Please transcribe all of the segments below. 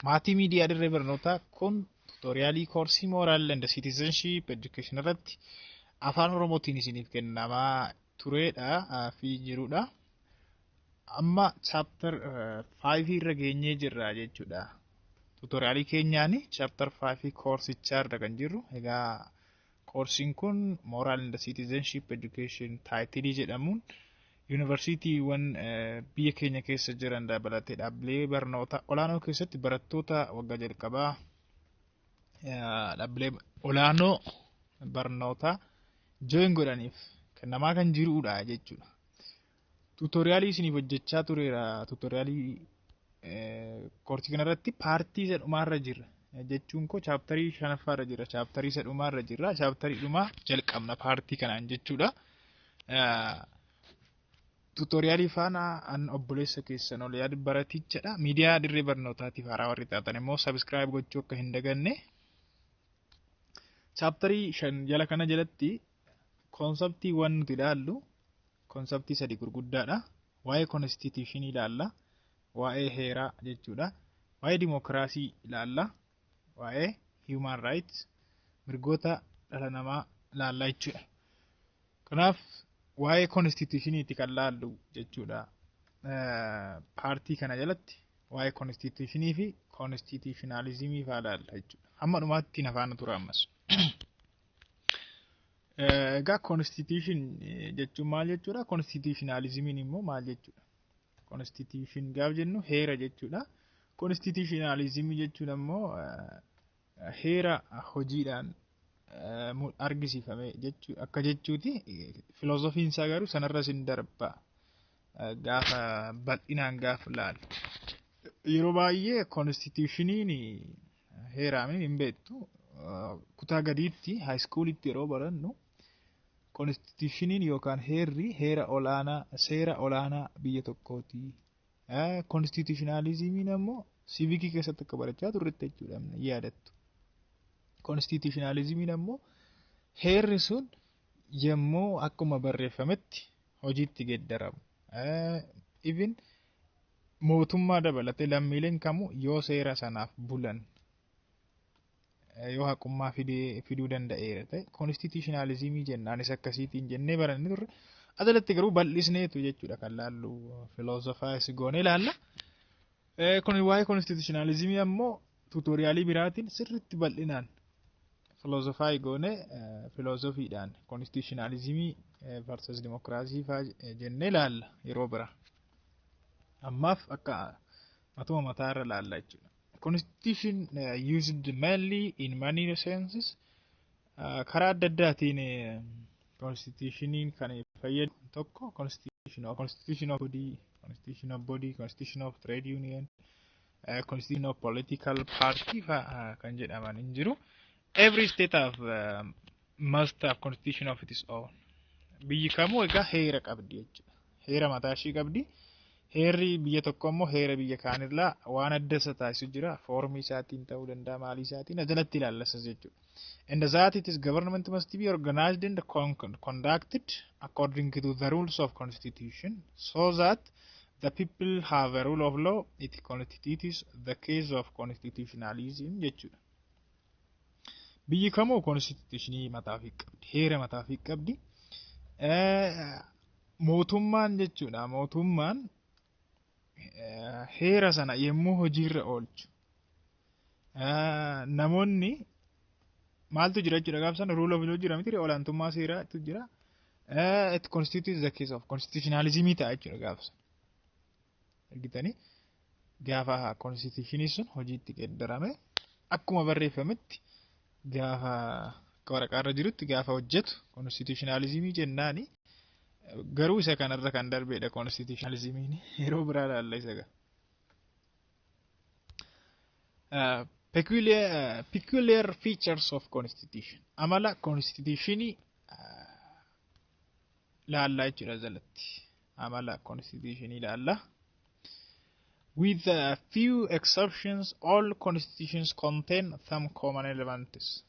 Maatii miidiyaa dirree barnootaa kun tuutoriyaalii koorsii mooraal and siitizenship education irratti afaan oromootiin isiniif kennamaa tureedha fi jirudha. Amma chaaptar 5 irra geenyee jirra jechuudha. Tuutoriyaalii keenyaan chaaptar 5 koorsichaa irra kan jirru. Egaa koorsiin kun mooraal and siitizenship education taayitilii jedhamuun Yuunivarsiitiiwwan biyya keenya keessa jiran dabalatee dhaabbilee barnoota olaanoo keessatti barattoota waggaa jalqabaa dhaabbilee olaanoo barnoota jooyin godhaniif kennamaa kan jirudha jechuudha. Tuutoriyaalii isiniif hojjechaa tureera. Tuutoriyaalii koorsii kanarratti paartii isa dhumaarra jirra. Jechuun koo chaaptarii shanaffaarra jirra. Chaaptarii isa dhumaarra jirra. Chaaptarii dhumaa jalqabna paartii kanaan jechuudha. Tuutoriyaalii faana an obboleessa keessan ol yaad baratichadha. Miidiyaa dirree barnootaatiif haaraa warri taatan immoo sabiskiraayib gochuu akka hin daganne. Chaaptarii shan jala kana jalatti koonseptii waan nuti ilaallu koonseptii sadi gurguddaadha. Waa'ee konstituushinii ilaalla. Waa'ee heeraa jechuudha. Waa'ee dimookiraasii ilaalla. Waa'ee human rights mirgoota dhala namaa ilaalla jechuudha. Kanaaf waa'ee konstituushiniiti kan laallu jechuudha. Paartii kana jalatti waa'ee konstituushinii fi konstituushinaalizimii fa'aa laalla jechuudha. Hamma dhumaatti na faana tura ammas. Egaa konstituushin jechuun maal jechuudha? Konstituushinaalizimiin immoo maal jechuudha? Konstituushin gaaf jennu heera jechuudha. Konstituushinaalizimii jechuun ammoo heera hojiidhaan argisiifame akka jechuuti. Filoozofiin isaa garuu sanarra sin darba gaafa bal'inaan gaafa laalu. Yeroo baay'ee konstituushiniin heeraamee hin beektu. Kutaa gadiitti haayiskuulitti yeroo barannu konstituushiniin yookaan heerri heera olaanaa seera olaanaa biyya tokkooti Konstituushinaalizimiin ammoo siivikii keessatti akka barachaa turretti jechuudha yaadattu. Konstituushinaalizimiin ammoo heerri sun yommuu akkuma barreeffametti hojiitti geeddaramu. Even mootummaa dabalatee lammiileen kamuu yoo seera sanaaf bulan yoo haqummaa fiduu danda'eera ta'e konstituushinaalizimii jenna anis akkasiitiin jennee baranne turre ajalatti garuu bal'isneetu jechuudha kan laallu filoozofaayis goonee ilaalla. Kun waa'ee konstituushinaalizimii ammoo tuutooriyaalii biraatiin sirriitti bal'inaan filoozofaayii goonee filoozofiidhaan konstituushinaalizimii versus dimokiraasii fa'aa jennee ilaalla yeroo biraa. Ammaaf akka Matuma mataa irra laalla jechuudha. Constitution uh, used mainly in many senses uh, karaa adda addaatiin uh, constitutioniin kan fayyadu tokko constitution of constitution of body constitution of body constitution of trade union uh, constitution of political party fa'a uh, kan jedhaman hin jiru. Every state have uh, must have constitution of its own. Biyyi kamuu egaa heera qabdi jechuudha. Heera mataa ishii qabdi. Heerri biyya tokko immoo heera biyya kaanirraa waan adda isa taasisu jira. Foormii isaatiin ta'uu danda'a maalii isaatiin ajalatti ilaallasa jechuudha. And that it is government must be organized and con- con- conducted according to the rules of constitution so that the people have a rule of law it constitutes the case of constitutionalism jechuudha. Biyyi kamuu konstituushinii mataa ofii qabdi. Heera mataa ofii qabdi. Mootummaan jechuudha. Mootummaan heera sana yommuu hojiirra oolchu namoonni maaltu jira jechuudha gaafa sana ruula ofii jira miti olaantummaa seeraatu jira. It constitutes the case of constitutionalism ta'a jechuudha gaafa sana. argitanii gaafa konstituushinii sun hojiitti geeddarame akkuma barreeffametti gaafa akka waraqaarra jirutti gaafa hojjetu konstituushinaalizimii jennaani garuu isa kanarra kan darbeedha konstituushinaalizimiin yeroo biraa laalla isa gaa. peculiar, uh, peculiar features of constitution amala constitutionii uh, laallaa jechuudha jalatti amala konstituushinii ilaalla. With a few exceptions, all constitutions contain some common elements.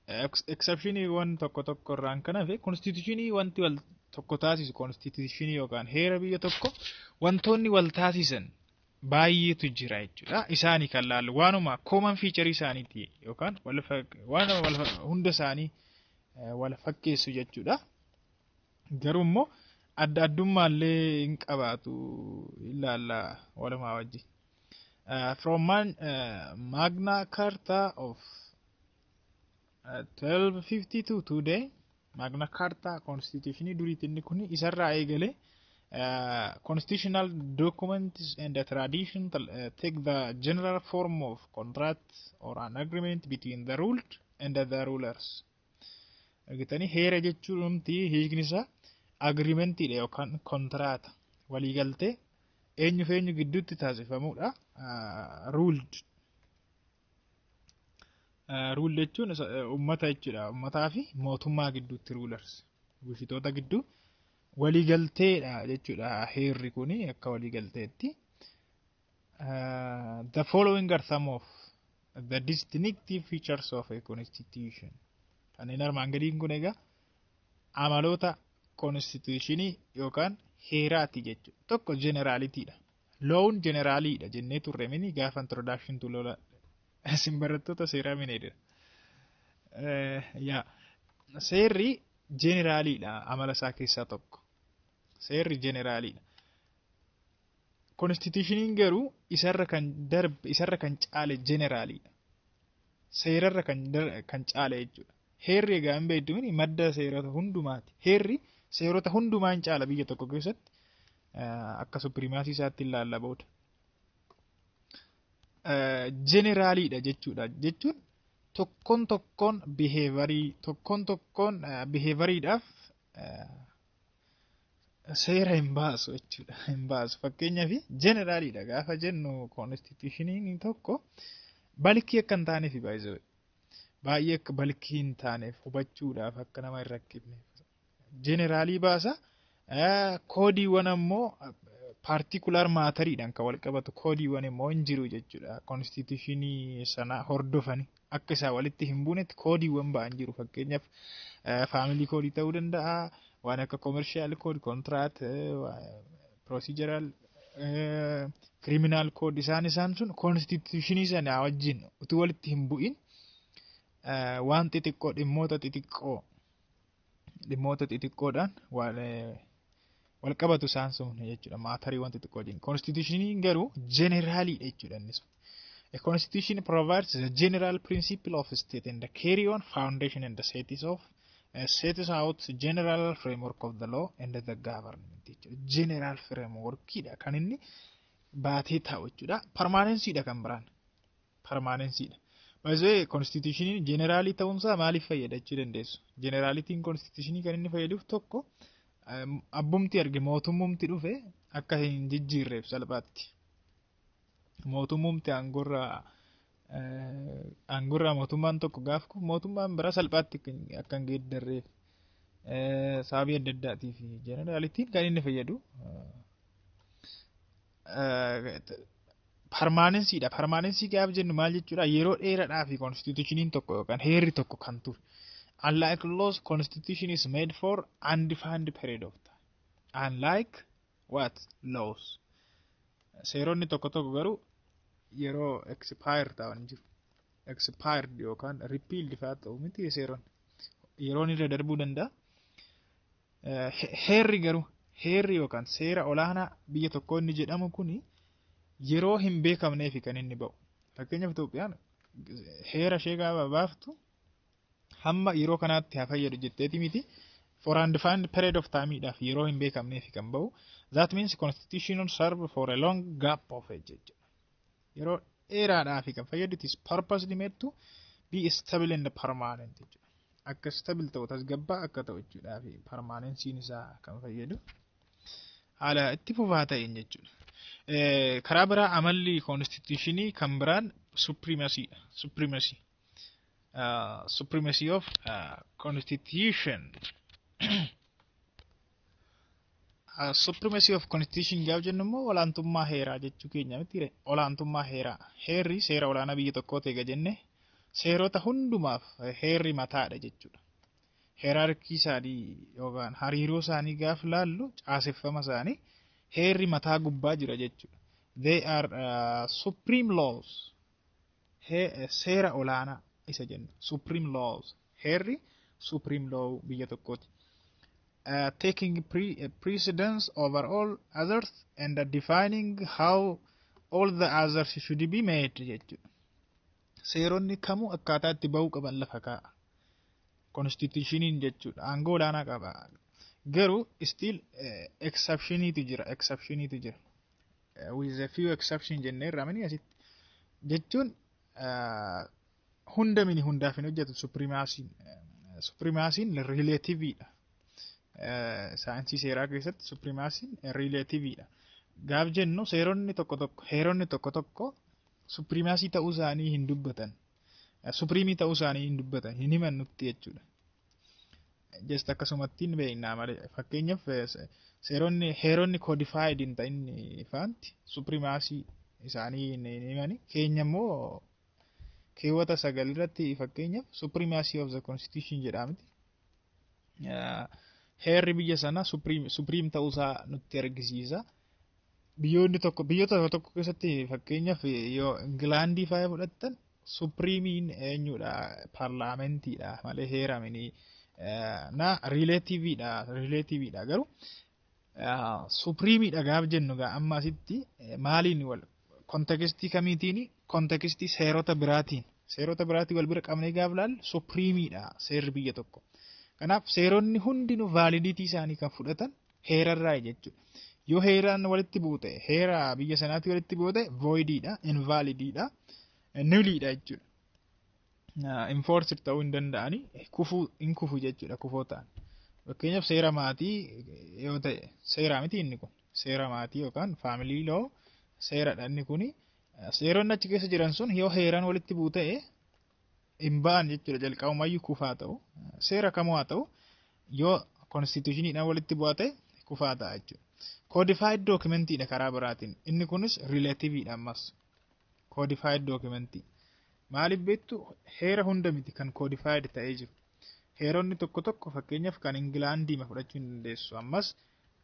Ex- Exceptioniiwwan tokko tokko irraan kan hafe konstituushinii wanti wal tokko taasisu konstituushinii yookaan heera biyya tokko wantoonni wal taasisan baay'eetu jira jechuudha. Isaanii kan laallu waanuma common feature isaaniiti yookaan wal fak- waanuma wal fa- hunda isaanii eh, wal fakkeessu jechuudha. Garuu immoo adda addummaa illee hin qabaatu ilaalla walumaa wajji. Uh, from man, uh, Magna Carta of uh, 1252 today Magna Carta constitution duriitti inni kun isarraa eegale uh, constitutional documents and the tradition uh, take the general form of contract or an agreement between the ruled and the rulers Argitanii heera jechuun dhumti hiikni isaa agiriimentiidha yookaan kontiraata waliigaltee eenyu fi eenyu gidduutti taasifamudha. Ruuldi. Ruuldi jechuun uummata jechuudha. Uummataa fi mootummaa gidduutti ruulers bulchitoota gidduu waliigalteedha jechuudha heerri kun akka waliigalteetti. Uh, the following are some of the distinctive features of a constitution. Kanneen armaan gadiin kun egaa amaloota konstituushinii yookaan heeraati jechuudha. Tokko jeneraalitiidha. Loon jeneraaliidha jennee turre mini gaafa introduction to lola isin barattoota seeraa mineedha. Yaa seerri jeneraaliidha amala isaa keessaa tokko. Seerri jeneraaliidha. Konistitishiniin garuu isarra kan darbe isarra kan caale jeneraaliidha. Seerarra kan, kan caale jechuudha. Heerri egaa hin beektu mini madda seerota hundumaati. Heerri seerota hundumaa hin caala biyya tokko keessatti akka supirimaasii isaatti hin laalla booda. Jeneraaliidha jechuudha jechuun tokkoon tokkoon biheevarii tokkoon tokkoon biheevariidhaaf seera hin baasu jechuudha. Hin baasu. Fakkeenyaaf jeneraaliidha gaafa jennu koonstituushiniin tokko balkii akka hin taaneef baay'ee baay'ee akka balkii hin taaneef hubachuudhaaf akka nama hin rakkifne. Jeneraalii baasa. Koodiiwwan ammoo paartikulaar maatariidhaan kan wal qabatu koodiiwwan immoo hin jiru jechuudha. Koonstituushinii sana hordofani. akka isaa walitti hin buunetti koodiiwwan ba'an jiru fakkeenyaaf faamilii koodii ta'uu danda'a waan akka koomershaal kood kontiraat pirosiijeraal kiriminaal kood isaan isaan sun koonstituushinii sanaa wajjin utuu walitti hin bu'in waan xixiqqoo dhimmoota xixiqqoo dhimmoota xixiqqoodhaan wal qabatu isaan sun jechuudha maatarii wanti xiqqoo jennu konstituushiniin garuu jeneraalii jechuudha inni sun. A constitution provides the general principle of state and the carry on foundation and the status of uh, sets out general framework of the law and the government jechuudha. General frameworkidha kan inni baatee taa'u jechuudha. Permanencyidha kan biraan. parmaanensii dha. By the way, konstituushiniin jeneraalii ta'uunsaa maaliif fayyada jechuu dandeessu? Jeneraalitiin konstituushinii kan inni fayyaduuf tokko em, abbumti arge mootummumti dhufe akka hin jijjiirreef salphaatti. Mootummumti aangorraa eh, aangorraa mootummaan tokko gaaf kufu mootummaan biraa salphaatti akka hin- akka hin geeddarreef eh, sababii adda addaatiif jeneraalitiin kan inni fayyadu eh, parmaanensiidha. Parmaanensii gaaf jennu maal jechuudha? Yeroo dheeraadhaa fi konstituushiniin tokko yookaan heerri tokko kan ture. Unlike laws, constitution is made for undefined period of time. Unlike what? Laws. Seeronni tokko tokko garuu yeroo expire ta'an jiru. Expired yookaan repealed fa'aa ta'u miti seeronni. Yeroon irra darbuu danda'a. Heerri garuu heerri yookaan seera olaanaa biyya tokkoo inni jedhamu kun yeroo hin beekamneefi kan inni ba'u. Fakkeenyaaf Itoophiyaan heera ishee gaafa baaftu hamma yeroo kanaatti haa fayyadu jetteeti miti. For undefined period of time dhaaf yeroo hin beekamneefi kan ba'u. That means constitution serve for a long gap of age jechuudha. yeroo dheeraadhaaf kan fayyadu it is purposely made to be stable and permanent jechuudha. Akka stable ta'u tasgabbaa akka ta'u jechuudhaaf permanensiin isaa kan fayyadu haala itti fufaa ta'een jechuudha. Karaa biraa amalli konstituushinii kan biraan supremacy dha. Supremacy. Supremacy of constitution. Supremacy of Constitution gaaf jennu immoo olaantummaa heeraa jechuu keenya miti olaantummaa heeraa heerri seera olaanaa biyya tokkoo ta'e jenne seerota hundumaaf heerri mataadha jechuudha. Heeraarkii isaanii yookaan hariiroo isaanii gaaf laallu caaseffama isaanii heerri mataa gubbaa jira jechuudha. They are uh, supreme laws seera olaanaa isa jennu supreme laws heerri supreme law biyya tokkooti. Uh, taking pre uh, precedence over all others and defining how all the others should be made jechuudha. Seeronni kamuu akkaataa itti ba'uu qaban lafa kaa'a. Konstitushiniin jechuudha. Aangoo olaanaa qaba. Garuu still exceptioniitu jira. Exceptioniitu jira. with a few exception jennee irraa mini asitti jechuun hunda mini hundaaf hin hojjetu suprimaasiin suprimaasiin rileetiviidha. Saayinsii seeraa keessatti suprimaasiin rileetiviidha. Gaaf jennu seeronni tokko tokko heeronni tokko tokko suprimaasii ta'uu isaanii hin dubbatan. Supriimii ta'uu isaanii hin dubbatan hin himan nutti jechuudha. just akkasumatti hin beeknaa malee fakkeenyaaf seeronni heeronni codified hin ta'in faanti suprimaasii isaanii hin himani keenya immoo keewwata sagal irratti fakkeenyaaf suprimaasii of the constitution jedhamti heerri biyya sanaa supriim ta'uusaa nutti argisiisa. biyyoonni tokko biyyoota tokko tokko keessatti fakkeenyaaf yoo Ingilaandii faaya fudhattan suprimiin eenyudha parlaamentiidha malee heeraminii na riileetiviidha riileetiviidha garuu suprimiidha gaaf jennu gaa amma asitti maaliin wal kontekistii kamiitiin kontekistii seerota biraatiin seerota biraatiin wal bira qabnee gaaf laal suprimiidha seerri biyya tokko kanaaf seeronni hundinuu vaalidiitii isaanii kan fudhatan heerarraa jechuudha. Yoo heeraan walitti buute heera biyya sanaatti walitti buute voidiidha, invalidiidha, nuliidha jechuudha. Enforced ta'uu hin danda'ani kufuu hin kufu jechuudha kufoo ta'an. Fakkeenyaaf seera maatii yoo ta'e seeraa miti inni kun seera maatii yookaan faamilii loo seeradha inni kuni seeronni achi keessa jiran sun yoo heeraan walitti buute hin ba'an jechuudha jalqabumayyuu kufaa ta'u seera kamuu haa ta'u yoo konstitushiniidhaan walitti bu'aa ta'e kufaa ta'a jechuudha. Koodifaayid dookimentiidha karaa biraatiin inni kunis riilativiidha ammas koodifaayid dookimentii maaliif beektu heera hunda miti kan koodifaayid ta'ee jiru heeronni tokko tokko fakkeenyaaf kan Ingilaandii fudhachuu hin dandeessu ammas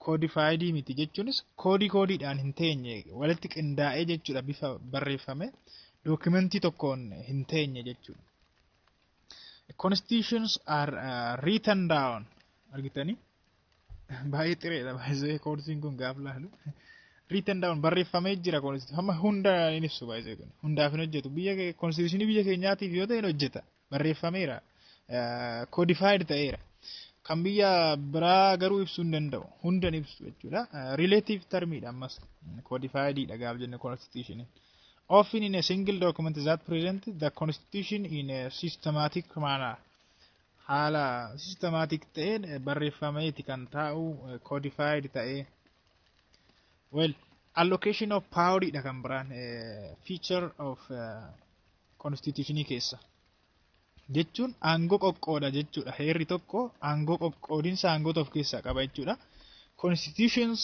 koodifaayidii miti jechuunis koodii koodiidhaan hin teenye walitti qindaa'ee jechuudha bifa barreeffame dookimentii tokkoon hin teenye jechuudha. Constitutions are uh, written down argitanii baay'ee xireedha baay'ee koorsiin kun gaaf laalu. Written down barreeffamee jira koorsiin amma hunda hin ibsu baay'ee kun hundaaf hin hojjetu biyya koorsiishinii biyya keenyaatiif yoo ta'e hin hojjeta barreeffameera, codified ta'eera. Kan biyya biraa garuu ibsuu hin danda'u. Hunda hin ibsu jechuudha. Relative term dha ammas. Codified dha gaaf jenne constitution. Often in a single document that present the constitution in a systematic manner. Haala systematic ta'een barreeffameeti kan taa'u codified ta'ee. Well, allocation of power dha kan biraan feature of uh, Konstiitushinii keessa jechuun aangoo qoqqooda jechuudha. Heerri tokko aangoo qoqqoodinsa aangoota of keessaa qaba jechuudha. Constitutions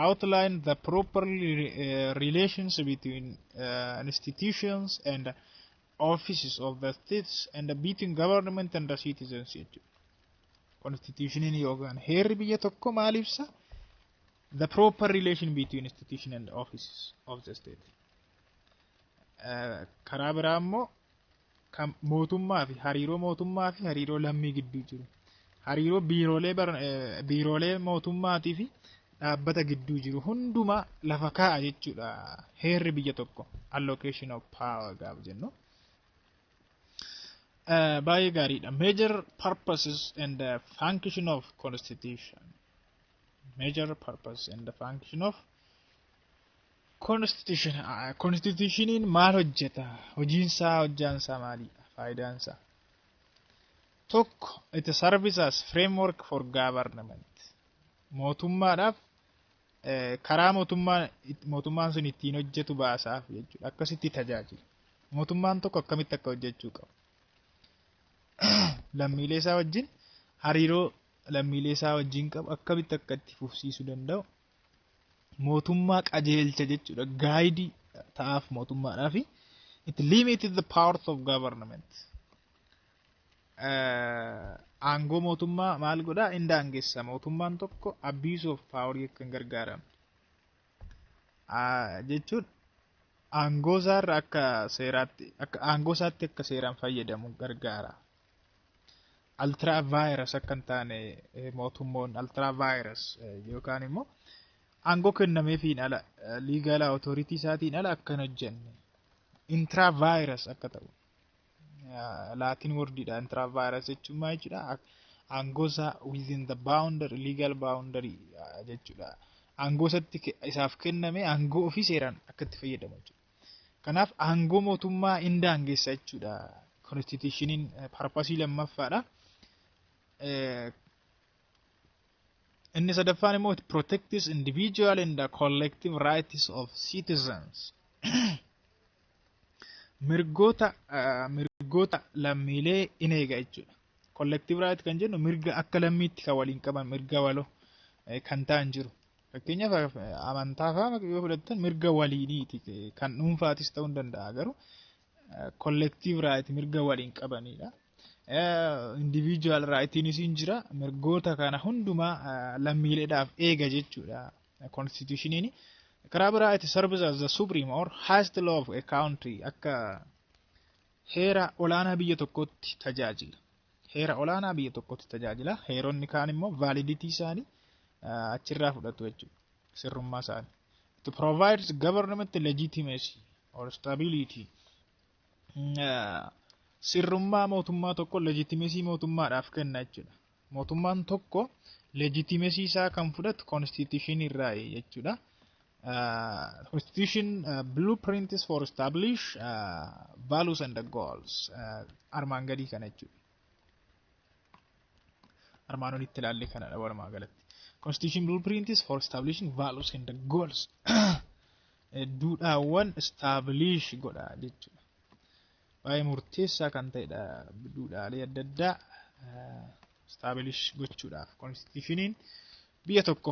outline the proper eh, relations between uh, institutions and offices of the states and between government and the citizens jechuudha. Constitutioniin yookaan heerri biyya tokko maal ibsa? The proper relation between institution and offices of the state. karaa biraa immoo kan mootummaa fi hariiroo mootummaa fi hariiroo lammii gidduu jiru. Hariiroo biiroolee biiroolee mootummaatii fi dhaabbata gidduu jiru hundumaa lafa kaa'a jechuudha. Heerri biyya tokko allocation of power gaafa jennu. Baay'ee gaariidha. Major purposes and the function of constitution. Major purpose and the function of Konstituushiniin maal hojjeta? Hojiinsaa hojjaansaa maalidha? Faayidaansaa? Tokko it serves as framework for government. Mootummaadhaaf karaa mootummaan mootummaan sun ittiin hojjetu baasaaf jechuudha. Akkasitti tajaajila. Mootummaan tokko akkamitti akka hojjechuu qabu. Lammiilee isaa wajjin hariiroo lammiilee isaa wajjin qabu akkamitti akka itti fufsiisuu danda'u mootummaa qajeelcha jechuudha. Gaayidii ta'aaf mootummaadhaa fi it limited the powers of government. Eh, Aangoo mootummaa maal godhaa hin daangessa. Mootummaan tokko abuse of power akka hin gargaaramu. Ah, Jechuun aangoo isaarra akka seeraatti akka aangoo isaatti akka seeraan fayyadamu gargaara. Altraa vaayiras akka hin taane mootummoon altraa vaayiras yookaan immoo aangoo kennameefiin ala liigaalaa otoooritii isaatiin ala akka hin hojjenne intiraa vaayiras akka ta'u laatiin wordiidha intiraa vaayiras jechuun maal jechuudha aangoo isaa within the boundary legal boundary jechuudha aangoo isatti isaaf kenname aangoo ofii seeraan akka itti fayyadamu jechuudha. Kanaaf aangoo mootummaa hin daangessa jechuudha. Konstitushiniin parpasii lammaffaadha. Inni sadaffaan immoo it protects individual and the collective rights of citizens. Mirgoota mirgoota lammiilee in eega jechuudha. Collective right kan jennu mirga akka lammiitti kan waliin qaban mirga waloo kan ta'an jiru. Fakkeenyaaf amantaa fa'aa yoo fudhattan mirga waliiniiti kan dhuunfaatis ta'uu ni danda'a garuu kollektiiv raayiti mirga waliin qabanidha. Indiviijuwaal raayitiinis ni jira mirgoota kana hundumaa lammiileedhaaf eega jechuudha konstituushiniin. Karaa biraa itti service as the supreme or highest law of a country akka heera olaanaa biyya tokkootti tajaajila. Heera olaanaa biyya tokkotti tajaajila. Heeronni kaan immoo validity isaanii achirraa fudhatu jechuudha. Sirrummaa isaanii. It provides government legitimacy or stability. Sirrummaa mootummaa tokko legitimacy mootummaadhaaf kenna jechuudha. Mootummaan tokko legitimacy isaa kan fudhatu constitution irraa jechuudha. Uh, constitution uh, blueprints for establish uh, values and the goals uh, armaan gadii kana jechuudha. Armaan olitti ilaalle kanadha walumaa galatti. Constitution blueprints for establishing values and the goals duudhaawwan establish godha jechuudha. Baay'ee murteessaa kan ta'edha duudhaalee adda addaa uh, establish gochuudhaaf constitutioniin biyya tokko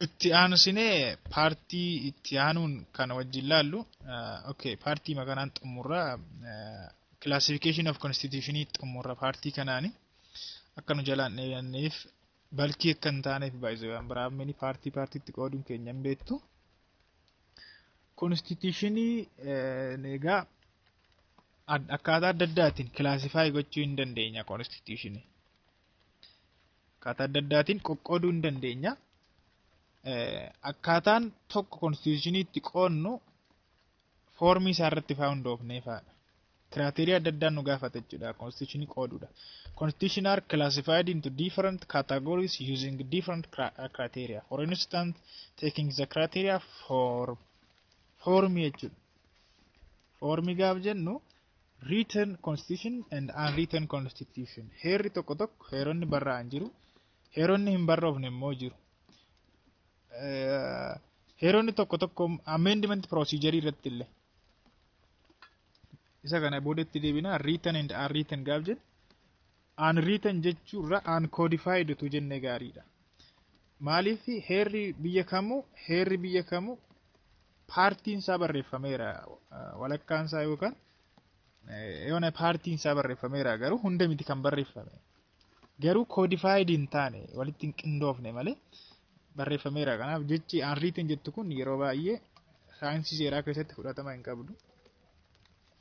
itti aanusinee paartii itti aanuun kana wajjin laallu okay paartii makanaan xumurra classification of constitution xumurra paartii kanaani akka nu jalaan dheeranneef balkii akka hin taaneef baay'isuu waan biraamini paartii paartiitti qooduun keenya hin beektu konstituushinii egaa akkaataa adda addaatiin kilaasifaayi gochuu hin dandeenya konstituushinii Akkaataa adda addaatiin qoqqooduu hin dandeenya. Akkaataan tokko konstituushinii itti qoodnu foormii isaa irratti faa hundoofnee faadha. Kiraateerii adda addaan nu gaafata jechuudha konstituushinii qooduudha. Constitution are classified into different categories using different criteria. For instance, taking the criteria for foormii jechuudha. Foormii gaaf jennu Written Constitution and Unwritten Constitution. Heerri tokko tokko heeronni barraa'an jiru. Heeronni hin barroofne immoo jiru. Eh, Heeronni tokko tokko amendment procedure irratti illee. Isa kana boodatti deebina written and unwritten gaaf jedhu. Unwritten jechuurra uncodified utuu jennee gaariidha. Maaliif heerri biyya kamuu heerri biyya kamuu paartiin isaa barreeffameera walakkaan isaa yookaan yoona paartiin isaa barreeffameera garuu hunda miti kan barreeffame. Garuu codified hin taane walitti hin qindoofne malee barreeffameera. Kanaaf jechi unwritten jettu kun yeroo baay'ee saayinsii seeraa keessatti fudhatama hin qabdu.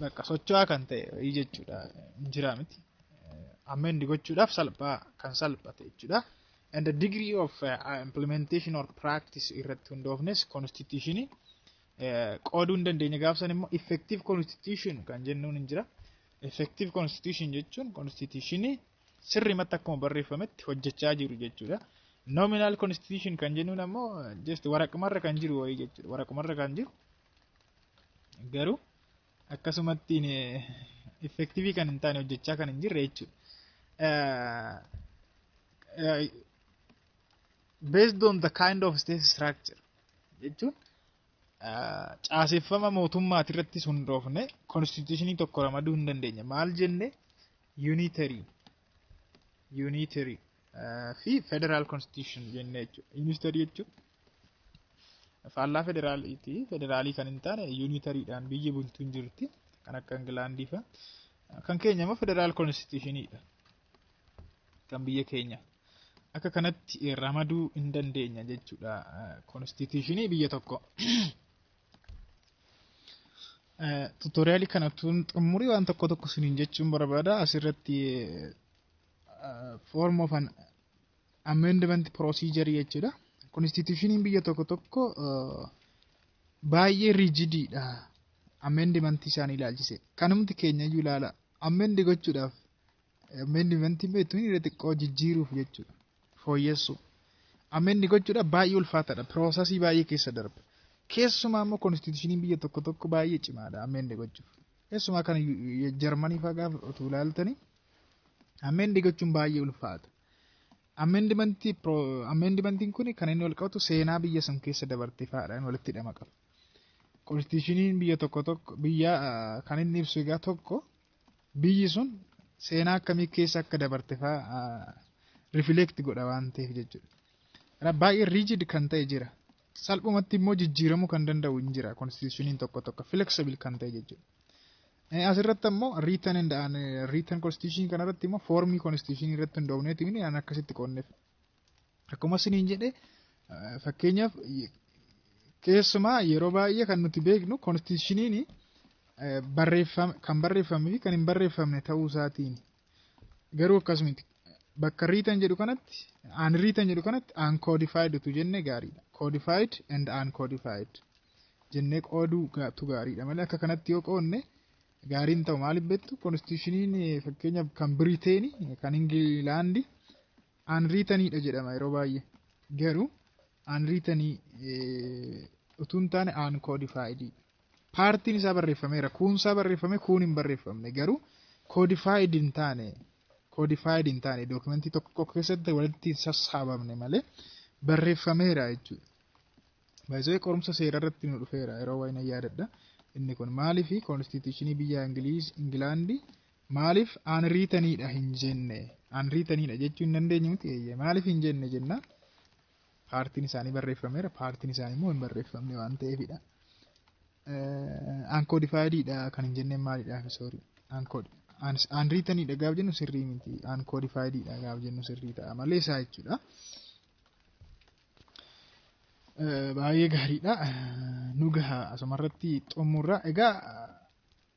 bakka socho'aa kan ta'e jechuudha hin jiraa miti. Amend gochuudhaaf salphaa kan salphate jechuudha. And the degree of uh, implementation or practice irratti hundoofnes constitution qooduu hin dandeenye gaafsan immoo effective constitution kan jennuun hin jira. Effective constitution jechuun constitution sirrimatti akkuma barreeffametti hojjechaa jiru jechuudha. Nominal constitution kan jennuun ammoo just waraqmarra kan jiru wayii jechuudha. Waraqmarra kan jiru Garuu akkasumatti effektiivii kan hin taane hojjechaa kan hin jirre jechuudha. Based on the kind of state structure jechuun caaseffama mootummaati irratti hundoofne konstituushinii tokko ramaduu hin dandeenye. Maal jenne unitary unitary fi federal constitution jenne jechuudha. Unitary jechuun Faallaa federaaliiti. Federaalii kan hin taane yuunitariidhaan biyyi bultu hin jirti. Kan akka Ingilaandii fa'a. Kan keenya immoo federaal konstituushiniidha. Kan biyya keenya. Akka kanatti ramaduu hin dandeenya jechuudha. Konstituushinii biyya tokko. Tuutoriyaalii kana tun xumurii waan tokko tokko siniin jechuun barbaada. Asirratti form of an amendment procedure jechuudha. Konstitushiniin biyya tokko tokko baay'ee riijidiidha. Amendment isaanii ilaalchise. Kanumti keenya iyyuu ilaala. Amend gochuudhaaf amendment beektu inni xiqqoo jijjiiruuf jechuudha. Fooyyessuu. Amend gochuudhaaf baay'ee ulfaataadha. Piroosasii baay'ee keessa darba. Keessumaa immoo konstitushiniin biyya tokko tokko baay'ee cimaadha amend gochuuf. Keessumaa kan Jarmanii fa'aa gaafa utuu ilaaltanii amend gochuun baay'ee ulfaata. Ameendimantii ameendimantiin kun kan inni wal qabatu seenaa biyya sun keessa dabarte fa'aadhaan walitti hidhama qaba. Konstitushiniin biyya tokko tokko biyya kan inni ibsu egaa tokko biyyi sun seenaa akkamii keessa akka dabarte fa'aa rifileekti godha waan ta'eef jechuudha. Kanaaf baay'ee riijid kan ta'e jira. Salphumatti immoo jijjiiramuu kan danda'u hin jira konstitushiniin tokko tokko fileksibil kan ta'e jechuudha. Asirratti ammoo written and unwritten constitution kanarratti immoo foormii constitution irratti hundoofneeti mini an akkasitti qoonneef. Akkuma isiniin jedhe fakkeenyaaf keessumaa yeroo baay'ee kan nuti beeknu constitutioniin barreeffame kan barreeffamee fi kan hin barreeffamne ta'uu isaatiin garuu akkasumatti bakka riitan jedhu kanatti aan riitan jedhu kanatti aan koodifaayid utuu jenne gaariidha. Koodifaayid and aan koodifaayid. jennee qooduu gaatu gaariidha malee akka kanatti yoo qoodne gaariin ta'u maaliif beektu konstitushiniin fakkeenyaaf kan Biriteeni kan Ingilaandi aanriitaniidha jedhama yeroo baay'ee garuu aanriitanii utuu hin taane aan koodifaayidii paartiin isaa barreeffameera kuunsaa barreeffame kuun hin barreeffamne garuu koodifaayid hin taane koodifaayid hin taane dookumentii tokko tokko keessatti walitti hin sassaabamne malee barreeffameera jechuudha. Baay'isee qorumsa seeraa irratti nu dhufeera yeroo waa'ee na yaadadha. Inni kun maaliif koonstituushinii biyya Ingiliiz Ingilaandi maaliif aanriitaniidha hin jenne aanriitaniidha jechuu hin dandeenye miti eeyyee maaliif hin jenne jenna paartiin isaanii barreeffameera paartiin isaanii immoo hin barreeffamne waan ta'eefidha. Aankoodifaayidiidha kan hin jenneen maalidha soorii aankood aanriitaniidha gaaf jennu sirrii miti aankoodifaayidiidha gaaf jennu sirrii ta'a malee isaa jechuudha. Baay'ee gaariidha. Nu gaha asumarratti xumurra. Egaa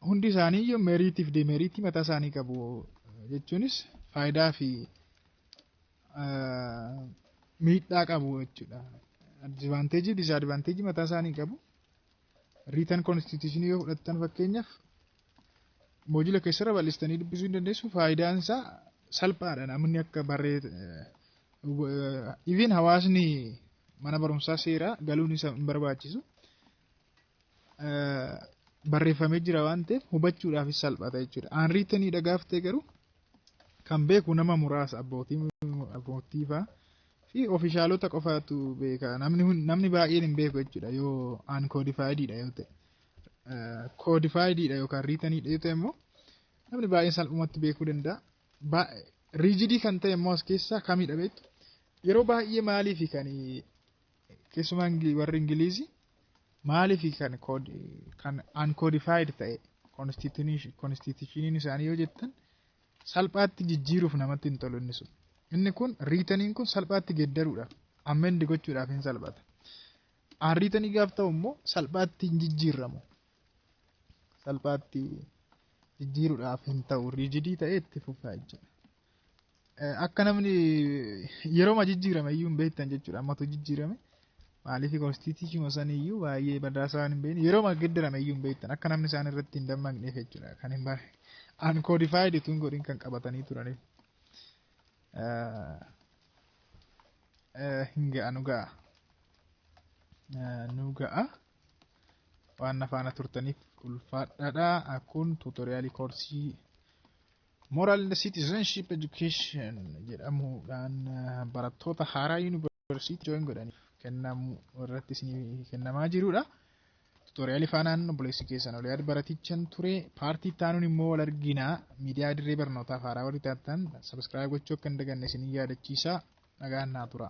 hundi isaanii iyyuu meeriitiif demeeriitii mataa isaanii qabu. Jechuunis faayidaa fi miidhaa qabu jechuudha. Advaanteejii fi disaadvaanteejii mataa isaanii qabu. Riitan konstituushinii yoo fudhattan fakkeenyaaf moojila keessarra bal'istanii dubbisuu hin dandeessu faayidaan isaa salphaadha namni akka barree even hawaasni mana barumsaa seeraa galuun isa hin barbaachisu barreeffamee jira waan ta'eef hubachuudhaafis salphata jechuudha. Aan riitanii dhagaaftee garuu kan beeku nama muraasa abbootii abbootii fa'aa fi ofishaalota qofaatu beeka namni hun- namni baay'een hin beeku jechuudha yoo aan koodifaayidiidha yoo ta'e koodifaayidiidha yookaan riitaniidha yoo ta'e immoo namni baay'een salphumatti beekuu danda'a Ba- riijidii kan ta'e immoo as keessaa kamidha beektu yeroo baay'ee maaliifi kan keessumaa Ingili- warri ingiliizii maaliifi kan kood- kan aan koodifaayid ta'e konstitushiniin isaanii yoo jettan Salphaatti jijjiiruuf namatti hin tolu inni sun. Inni kun riitaniin kun salphaatti geeddaruudhaaf ammendi gochuudhaaf hin salphata. Aan riitanii gaaf ta'u immoo salphaatti hin jijjiirramu. Salphaatti jijjiiruudhaaf hin ta'u riijidii ta'ee itti fufaa jechuudha. Akka namni yeroo jijjiirame iyyuu hin beektan jechuudha. Ammatu jijjiirame Maaliif konstiitiishiima saniyyuu baay'ee badaa isaan hin beekne yeroo magiddirame iyyuu hin beektan akka namni isaan irratti hin dammaqneef jechuudha kan hin bare unqualified utuu hin godhin kan qabatanii turaniif hin ga'a nu ga'a nu ga'a waan na faana turtaniif ulfaadhaadha akkun tuutoriyaalii koorsii moral citizenship education jedhamuudhaan barattoota haaraa yuunivarsiitii Yuunivarsiitii jooyin godhaniif kennamu irratti isinii kennamaa jirudha. Tuutoriyaalii faanaan obboleessi keessan oliyaad baratichan ture paartii taanuun immoo wal arginaa miidiyaa dirree barnootaaf haaraa warri taatan sabiskiraayib gochuu akka hin daganne isin yaadachiisa nagaan naa tura.